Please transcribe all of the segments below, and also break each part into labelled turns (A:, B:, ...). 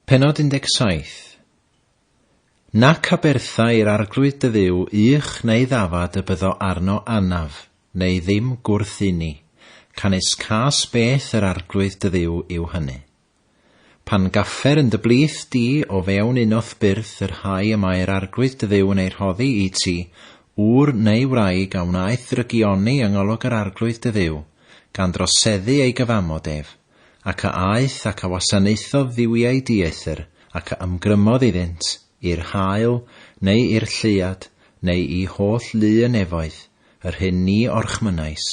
A: Pennod 17. Nac abertha i'r Arglwydd dy Dduw ych neu ddafad y byddo arno anaf, neu ddim gwrth inni, canys cas beth yr Arglwydd dy Dduw yw hynny. Pan gaffer yn dy blith di o fewn unoth byrth y rhai y mae'r Arglwydd dy Dduw yn eu rhoddi i ti, ŵr neu wraig a wnaeth drygioni yng ngolwg yr Arglwydd dy Dduw, gan droseddu ei gyfamod ef, ac a aeth ac a wasanaethodd dduwiau dieithr, ac a ymgrymodd iddynt, i'r haul, neu i'r lleuad, neu i holl lu y nefoedd, yr hyn ni orchmynnais.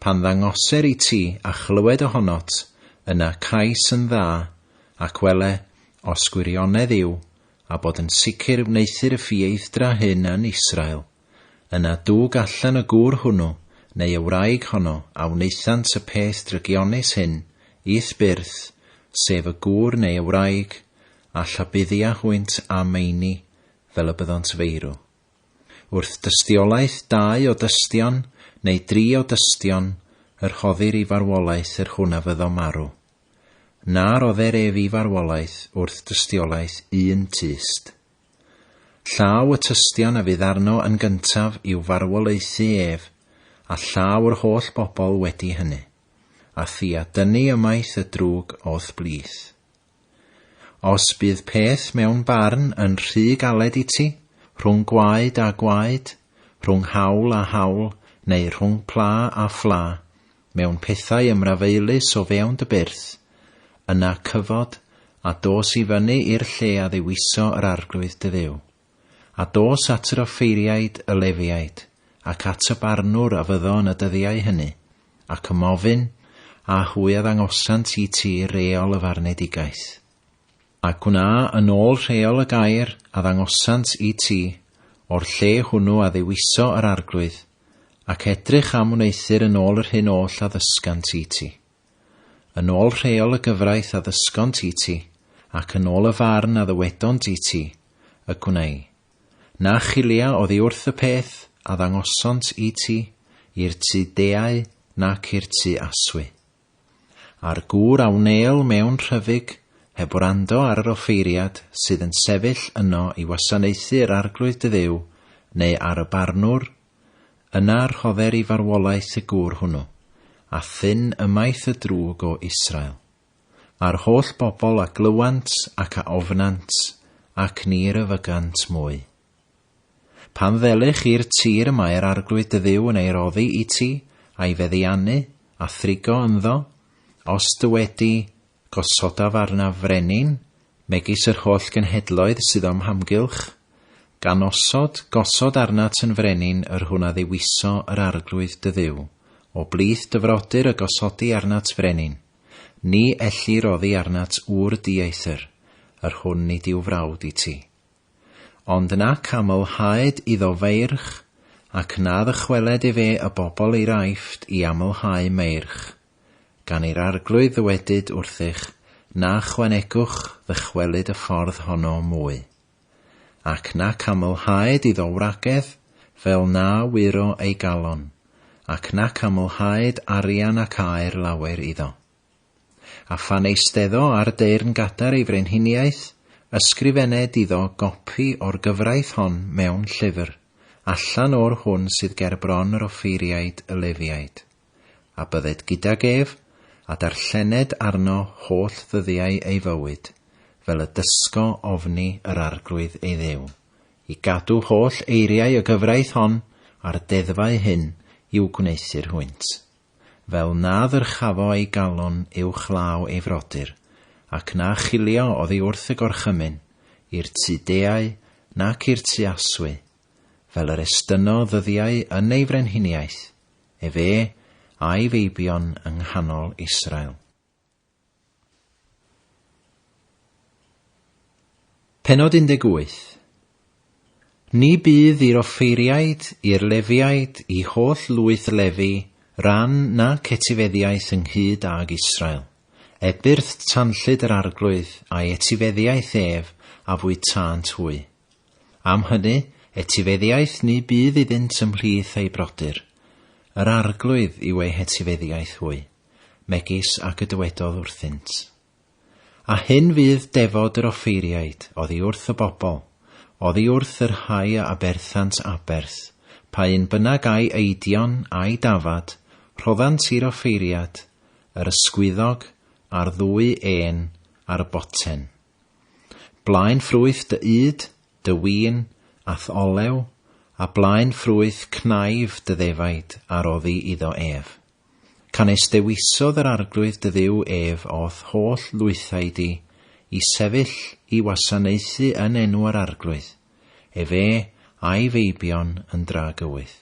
A: Pan ddangoser i ti, a chlywed ohonot, yna cais yn dda, ac wele, os gwirionedd yw, a bod yn sicr wneuthur y ffieithdra hyn yn Israel. Yna dug allan y gŵr hwnnw, neu y wraig honno, a wnaethant y peth drygionus hyn, i'th byrth, sef y gŵr neu y wraig, a llabuddia hwynt â meini, fel y byddont feirw. Wrth dystiolaeth dau o dystion, neu dri o dystion, y rhoddir i farwolaeth yr hwn a fyddo marw. Na rodder ef i farwolaeth wrth dystiolaeth un tyst. Llaw y tystion a fydd arno yn gyntaf i'w farwolaethu ef, a llaw'r holl bobl wedi hynny, a thi a dynnu ymaith y drwg o'th blith. Os bydd peth mewn barn yn rhy galed i ti, rhwng gwaed a gwaed, rhwng haul a haul, neu rhwng pla a phla, mewn pethau ymrafaelus o fewn dy byrth, yna cyfod, a dos i fyny i'r lle a ddewiso yr Arglwydd dy Dduw. A dos at yr offeiriaid, y Lefiaid, ac at y barnwr a fyddo yn y dyddiau hynny, ac ym ofyn, a hwy a ddangosant i ti reol y farnedigaeth. A gwna yn ôl rheol y gair a ddangosant i ti, o'r lle hwnnw a ddewiso yr Arglwydd, ac edrych am wneuthur yn ôl yr hyn oll a ddysgant i ti. Yn ôl rheol y gyfraith a ddysgont i ti, ac yn ôl y farn a ddywedont i ti, y gwneu. Na chilia oddi wrth y peth a ddangosont i ti, i'r tu deau nac i'r tu aswy. A'r gŵr a wnêl mewn rhyfyg, heb wrando ar yr offeiriad sydd yn sefyll yno i wasanaethu yr Arglwydd dy Dduw, neu ar y barnwr? Yna rhodder i farwolaeth y gŵr hwnnw, a thyn ymaith y drwg o Israel. A'r holl bobl a glywant ac a ofnant, ac ni ryfygant mwy. Pan ddele chi'r tir y mae'r Arglwydd dy Dduw yn ei roddi i ti, a'i feddiannu, a thrigo ynddo, os dy wedi gosodaf arnaf frenin, megis yr holl genhedloedd sydd o'm hamgylch, gan osod, gosod arnat yn frenin yr hwn a ddewiso yr Arglwydd dy Dduw, o blith dy frodyr y gosodi arnat frenin, ni elli roddi arnat ŵr dieithr, yr hwn nid yw frawd i ti. Ond na camylhaed iddo feirch, ac na ddychweled efe y bobl i'r Aifft i amylhau meirch. Gan i'r Arglwydd ddywedyd wrthych, na chwanegwch ddychwelyd y ffordd honno mwy. Ac na camylhaed iddo wragedd, fel na wyro ei galon, ac na camylhaed arian ac aur lawer iddo. A phan eisteddo ar deyrn gadar ei frenhiniaeth, ysgrifened iddo gopi o'r gyfraith hon mewn llyfr, allan o'r hwn sydd ger bron yr offeiriaid y Lefiaid. A bydded gydag ef, a darllened arno holl ddyddiau ei fywyd, fel y dysgo ofni yr Arglwydd ei Dduw, i gadw holl eiriau y gyfraith hon a'r deddfau hyn i'w gwneuthur hwynt. fel na ddyrchafo ei galon uwch law ei frodyr, ac na chilio oddi wrth y gorchymyn, i'r tu deau nac i'r tu aswy, fel yr estynno ddyddiau yn ei frenhiniaeth, efe, a'i feibion yng nghanol Israel. Pennod 18. Ni bydd i'r offeiriaid, i'r Lefiaid, i holl lwyth Lefi, ran nac etifeddiaeth ynghyd âg Israel, ebyrth tanllyd yr arglwydd a'i etifeddiaeth ef a fwytânt hwy. Am hynny, etifeddiaeth ni bydd iddynt ymhlith eu brodyr, yr arglwydd yw ei hetifeddiaeth hwy. megis ac y dywedodd wrthynt. A hyn fydd defod yr offeiriaid oddi wrth y bobl, oddi wrth y rhai a aberthant aberth, pa un bynnag ai eidion ai dafad, rhoddant i'r offeiriad, yr ysgwyddog, a'r ddwy ên, ar y boten. Blaen ffrwyth dy ŷd, dy win, a'th olew, a blaen ffrwyth cnaiff dy ddefaid a roddi iddo ef. Canys dewisodd yr Arglwydd dy Dduw ef o'th holl lwythau di, i sefyll i wasanaethu yn enw yr Arglwydd, efe a'i feibion yn dra gywydd.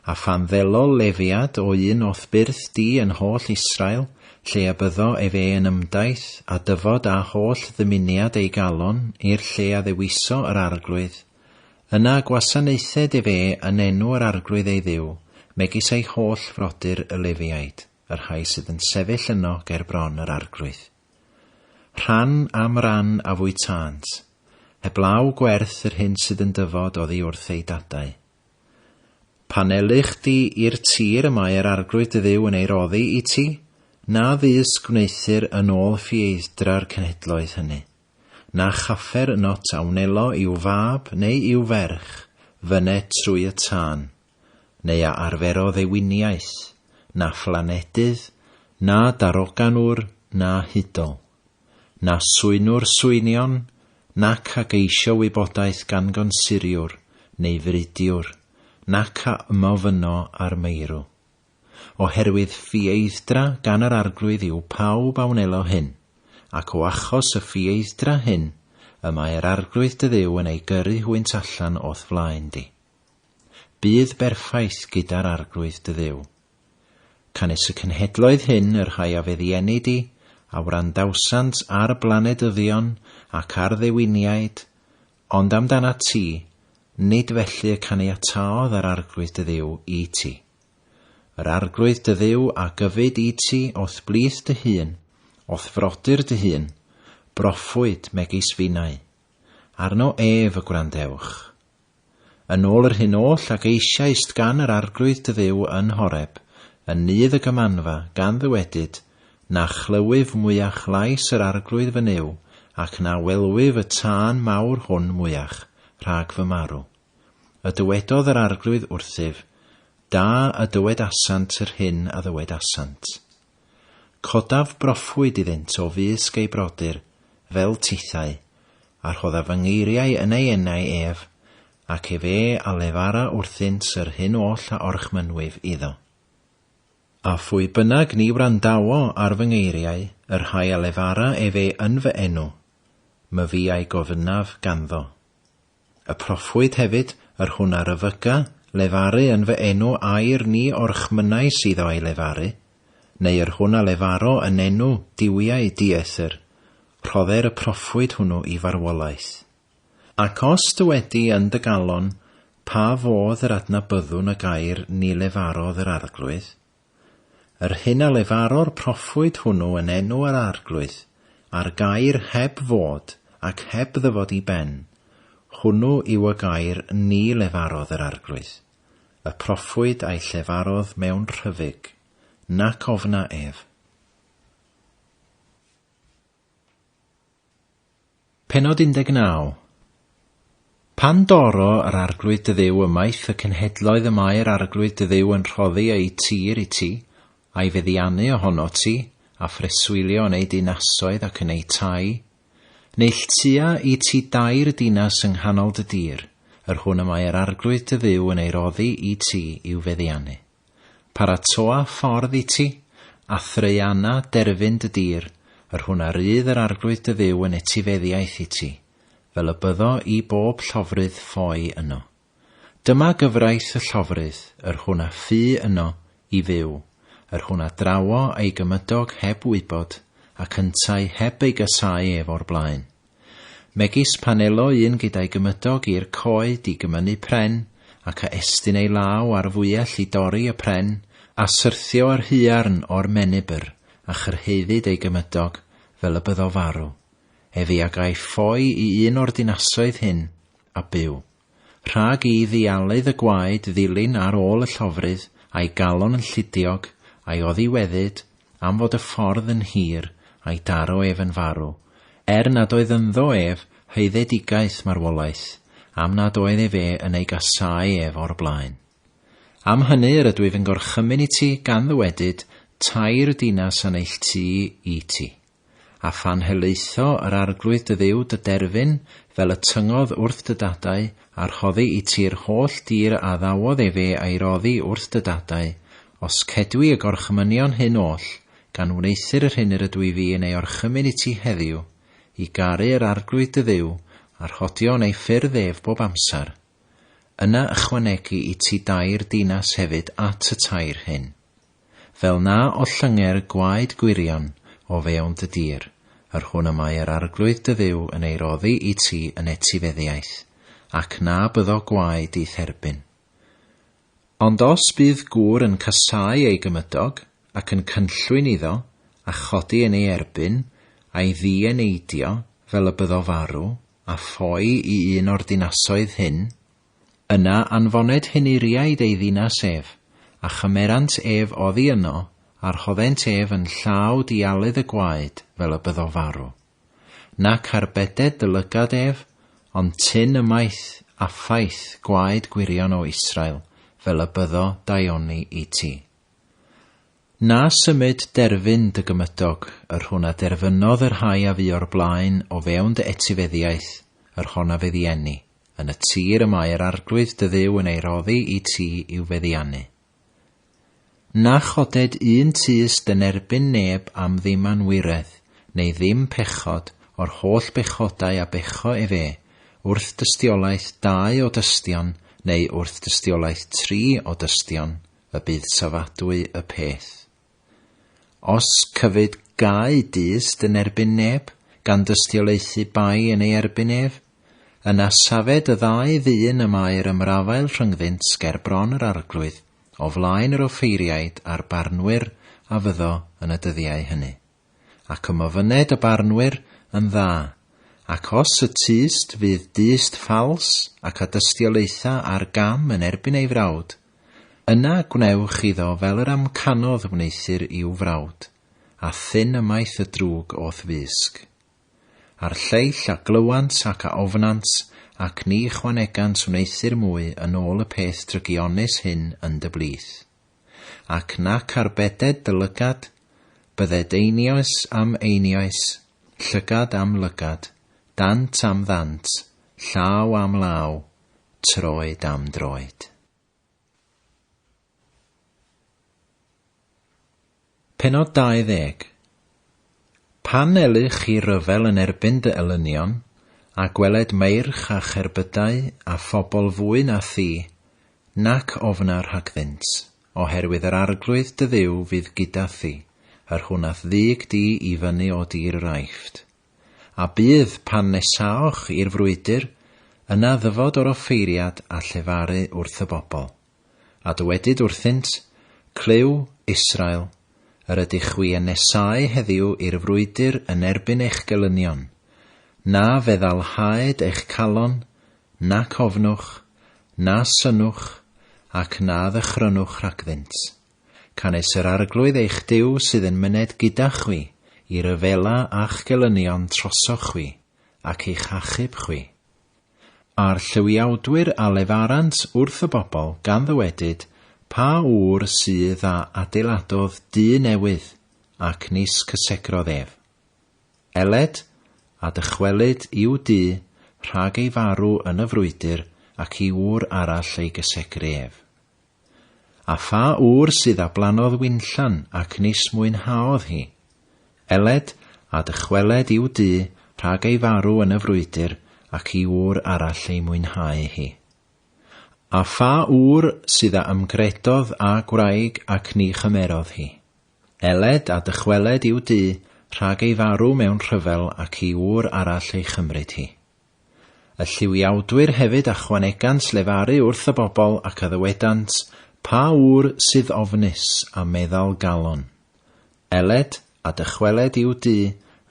A: A phan ddelol lefiad o un o'th byrth di yn holl Israel, lle y byddo efe yn ymdaith â dyfod â holl ddymuniad ei galon i'r lle a ddewiso yr Arglwydd, Yna gwasanaethed ef e yn enw yr Arglwydd ei Dduw, megis ei holl frodyr y Lefiaid, y rhai sydd yn sefyll yno ger bron yr Arglwydd. Rhan am ran a fwytânt, heblaw gwerth yr hyn sydd yn dyfod oddi wrth eu dadau. Pan elych chdi i'r tir y mae yr Arglwydd dy Dduw yn ei roddi i ti, na ddys gwneuthur yn ôl ffieiddra'r cenhedloedd hynny. Na chaffer yn ot a wnelo i'w fab neu i'w ferch fyne trwy y tân, neu a arferodd ei winiaeth, na phlaneddydd, na daroganwr, na hudol, na swynwr swynion, nac a geisio wybodaeth gan gonsuriwr neu fridiwr, nac a ymof yno ar meirw. Oherwydd ffieithdra gan yr Arglwydd yw pawb a wnelo hyn, ac o achos y ffieithdra hyn y mae yr Arglwydd dy Dduw yn ei gyrru hwynt allan o'th flaen di. Bydd berffaith gyda'r Arglwydd dy Dduw. Canys y cenhedloedd hyn y rhai a feddieni di, a wrandawsant ar blanedyddion ac ar ddewiniaid, Ond amdanat ti, nid felly y caniataodd yr Arglwydd dy Dduw i ti. Yr Arglwydd dy Dduw a gyfyd i ti o'th blith dy hun, o'th frodyr dy hun, broffwyd, megis finnau. Arno ef y gwrandewch. Yn ôl yr hyn oll a geisiaist gan yr Arglwydd dy Dduw yn Horeb, yn nydd y Gymanfa, gan ddywedyd, Na chlywif mwyach lais yr Arglwydd fy Nuw, ac na welwif y tân mawr hwn mwyach, rhag fy marw. A dywedodd yr Arglwydd wrthyf, Da a dywedasant yr hyn a ddywedasant. Codaf broffwyd iddynt o fysg ei brodyr, fel tithau, a rhoddaf fy ngeiriau yn ei enau ef, ac efe a lefara wrthynt yr hyn oll a orchmynnwif iddo. A phwy bynnag ni wrandawo ar fy ngeiriau, y rhai a lefara efe yn fy enw, myfi a'i gofynnaf ganddo. Y proffwyd hefyd, yr hwn a ryfyga, lefaru yn fy enw air ni o'r chmynau sydd o a'i lefaru, neu yr hwn a lefaro yn enw duwiau dieithr, rhodder y proffwyd hwnnw i farwolaeth. Ac os dy wedi yn dy galon, pa fodd yr adnabyddwn y gair ni lefarodd yr Arglwydd? Yr hyn a lefaro'r proffwyd hwnnw yn enw yr Arglwydd, a'r gair heb fod ac heb ddyfod i ben, hwnnw yw y gair ni lefarodd yr Arglwydd, y proffwyd a'i llefarodd mewn rhyfyg, nac ofna ef. Pennod 19. Pan dorro yr Arglwydd dy Dduw ymaith y cenhedloedd y mae'r Arglwydd dy Dduw yn rhoddi eu tir i ti, a'i feddiannu ohonot ti, a phreswylio yn eu dinasoedd ac yn eu tai, neull tua i ti dair dinas yng nghanol dy dir, yr hwn y mae'r Arglwydd dy Dduw yn ei roddi i ti i'w feddiannu. Paratoa ffordd i ti, a thraeana derfyn dy dir, yr hwn a rydd yr Arglwydd dy Dduw yn etifeddiaeth i ti, fel y byddo i bob llofrudd ffoi yno. Dyma gyfraith y llofrudd, yr hwn a fu yno i fyw, yr hwn a drawo ei gymydog heb wybod, ac yntau heb ei gasáu ef o'r blaen. megis panelo un gyda'i gymydog i'r coed i gymynu pren, ac a estyn ei law ar fwyell i dorri y pren, a syrthio yr huarn o'r menibr, a chyrhaeddid ei gymydog, fel y byddo farw. Efi a gaiff ffoi i un o'r dinasoedd hyn, a byw. Rhag i ddialydd y gwaed ddilyn ar ôl y llofrudd, a'i galon yn llidiog, a'i oddiweddyd, am fod y ffordd yn hir, a'i daro ef yn farw, er nad oedd ynddo ef haeddedigaeth marwolaeth, am nad oedd efe yn ei gasáu ef o'r blaen. Am hynny yr ydwyf yn gorchymyn i ti gan ddywedyd tair dinas a neilltuí i ti. A phan helaetho yr Arglwydd dy Dduw dy derfyn, fel y tyngodd wrth dy dadau, a rhoddi i ti'r holl dir a addawodd ef e a'i roddi wrth dy dadau, os cedwi y gorchmynion hyn oll, gan wneuthur yr hyn yr ydw i fi yn ei orchymyn i ti heddiw, i garu yr Arglwydd dy Dduw, a rhodio yn ei ffyrdd ef bob amser, yna ychwanegu i ti dair dinas hefyd at y tair hyn. fel na ollynger gwaed gwirion o fewn dy dir, yr hwn y mae yr Arglwydd dy Dduw yn ei roddi i ti yn etifeddiaeth, ac na byddo gwaed di therbyn. Ond os bydd gŵr yn casáu ei gymydog, ac yn cynllwyn iddo, a chodi yn ei erbyn, a'i ddieneidio, fel y byddo farw, a ffoi i un o'r dinasoedd hyn, Yna anfoned hyn Uriaid ei ddinas ef, a chymerant ef oddi yno, a rhoddent ef yn llaw dialydd y gwaed fel y byddo farw. Nac arbeded dy lygad ef, ond tyn ymaith, a ffaith, gwaed gwirion o Israel, fel y byddo daioni i ti. Na symud derfyn dy gymydog, yr hwn a derfynodd y rhai a fu o'r blaen o fewn dy etifeddiaeth, yr hon a feddienni, yn y tir y mae yr Arglwydd dy Dduw yn ei roddi i ti i'w feddiannu. Na choded un tus dy nerbyn neb am ddim anwiredd, neu ddim pechod, o'r holl bechodau a becho ef e, wrth dystiolaeth dau o dystion, neu wrth dystiolaeth tri o dystion, y bydd safadwy y peth. Os cyfyd gau dyst yn erbyn neb, gan dystiolaethu bai yn ei erbyn ef, yna safed y ddau ddyn y mae'r ymrafael rhyngddynt ger bron yr arglwydd, o flaen yr offeiriaid a'r barnwyr a fyddo yn y dyddiau hynny. ac y ma fyned y barnwyr yn dda, ac os y tyst fydd dyst ffals ac a dystiolaetha ar gam yn erbyn ei frawd, yna gwnewch iddo fel yr amcanodd wneuthur i'w frawd, a thyn ymaith y drwg o'th fysg. A'r lleill a glywant ac a ofnant, ac ni chwanegant wneuthur mwy yn ôl y peth drygionus hyn yn dy blith. ac nac arbeded dy lygad, bydded einioes am einioes, llygad am lygad, dant am ddant, llaw am law, troed am droed. Pennod 20. Pan elyh chi ryfel yn erbyn dy elynion, a gweled meirch a cherbydau a phobl fwy na thi, nac ofna rhagddynt, oherwydd yr arglwydd dy Dduw fydd gyda thi, yr hwn a'th ddug di i fyny o dir yr Aifft. A bydd, pan nesaoch i'r frwydr, yna ddyfod o'r offeiriad a llefaru wrth y bobl. A dywedyd wrthynt, Clyw, Israel, yr ydych chwi yn nesáu heddiw i'r frwydr yn erbyn eich gelynion, na feddalhaed eich calon, nac ofnwch, na synnwch, ac na ddychrynwch rhagddynt. Canys yr Arglwydd eich Duw sydd yn myned gyda chwi i ryfela â'ch gelynion trosoch chwi, ac i'ch achub chwi. a'r llywiawdwyr a lefarant wrth y bobl gan ddywedyd, Pa ŵr sydd a adeiladodd dŷ newydd, ac nis cysegrodd ef? Eled, a dychwelyd i'w dŷ, rhag ei farw yn y frwydr, ac i ŵr arall ei gysegru ef. A pha ŵr sydd a blannodd winllan ac nis mwynhaodd hi? Eled, a dychweled i'w dŷ rhag ei farw yn y frwydr ac i ŵr arall ei mwynhau hi. A pha ŵr sydd a ymgredodd â gwraig ac ni chymerodd hi? Eled, a dychweled i'w dŷ rhag ei farw mewn rhyfel ac i ŵr arall ei chymryd hi. Y lliwiawdwyr hefyd achwanegant lefaru wrth y bobl ac a ddywedant, Pa ŵr sydd ofnus a meddal galon? Eled, a dychweled i'w du,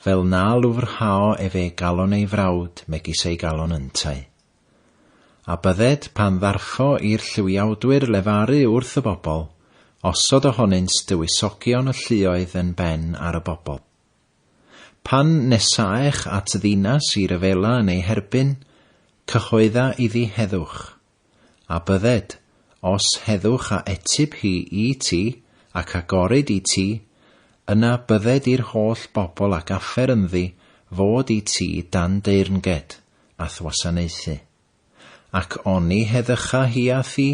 A: fel na lwfrhao efe galon ei frawd megis ei galon yntau. A bydded, pan ddarffo i'r lliwiawdwyr lefaru wrth y bobl, osod ohonynt dywysogion y lluoedd yn ben ar y bobl. Pan nesaech at ddinas i ryfela yn ei herbyn, cyhoedda iddi heddwch. A bydded, os heddwch a etyb hi i ti, ac agorid i ti, yna bydded i'r holl bobl a gaffer ynddi fod i ti dan deyrnged, a thwasanaethu. Ac oni heddycha hi â thi,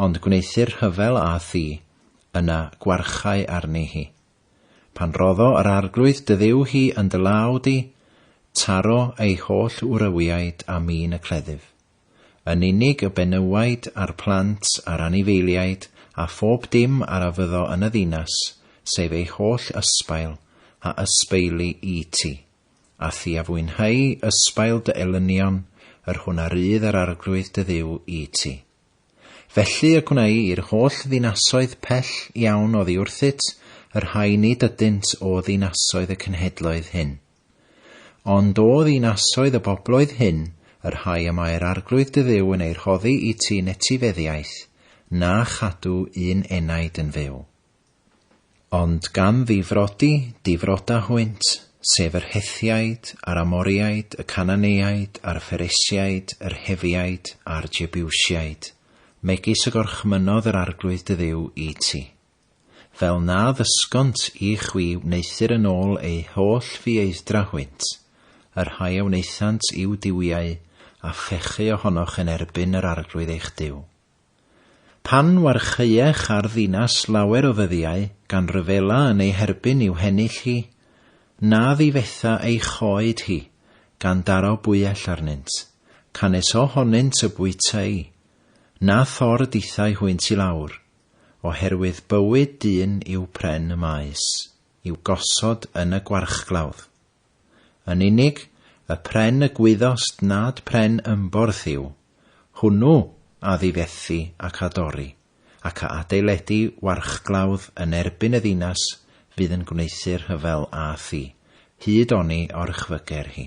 A: ond gwneuthur rhyfel â thi, yna gwarchai arni hi. Pan roddo yr Arglwydd dy Dduw hi yn dy law di, taro ei holl wrywiaid a min y cleddyf. Yn unig y benywaidd a'r plant a'r anifeiliaid a phob dim ar a fyddo yn y ddinas, sef ei holl ysbail, a ysbeili i ti. A thi a fwynheu ysbail dy elynion, yr hwn a rydd yr Arglwydd dy Dduw i ti. Felly y gwnei i'r holl ddinasoedd pell iawn oddi wrthyt, y rhai nid ydynt o ddinasoedd y cenhedloedd hyn. Ond o ddinasoedd y bobloedd hyn, y rhai y mae'r Arglwydd dy Dduw yn eu rhoddi i ti yn etifeddiaeth, na chadw un enaid yn fyw. Ond gan ddifrodi, difroda hwynt, sef yr Hethiaid, a'r Amoriaid, y Cananeiaid, a'r Pheresiaid, yr Hefiaid, a'r Jebiwsiaid, megis y gorchmynnodd yr Arglwydd dy Dduw i ti. Fel na ddysgont i chwi wneuthur yn ôl eu holl fieithdra hwynt, y rhai a wnaethant i'w duwiau a phechu ohonoch yn erbyn yr Arglwydd eich Duw. Pan warchaeech ar ddinas lawer o ddyddiau gan ryfela yn ei herbyn i'w hennill hi, na ddifetha ei choed hi, gan daro bwyell arnynt, canys o honynt y bwytai'i, na thor dithau hwynt i lawr, oherwydd bywyd dyn yw pren y maes, i'w gosod yn y gwarchglawdd. Yn unig, y pren y gwyddost nad pren ymborth yw, hwnnw a ddifethi ac a dorri, ac a adeiledi warchglawdd yn erbyn y ddinas fydd yn gwneuthur rhyfel â thi, hyd oni orchfyger hi.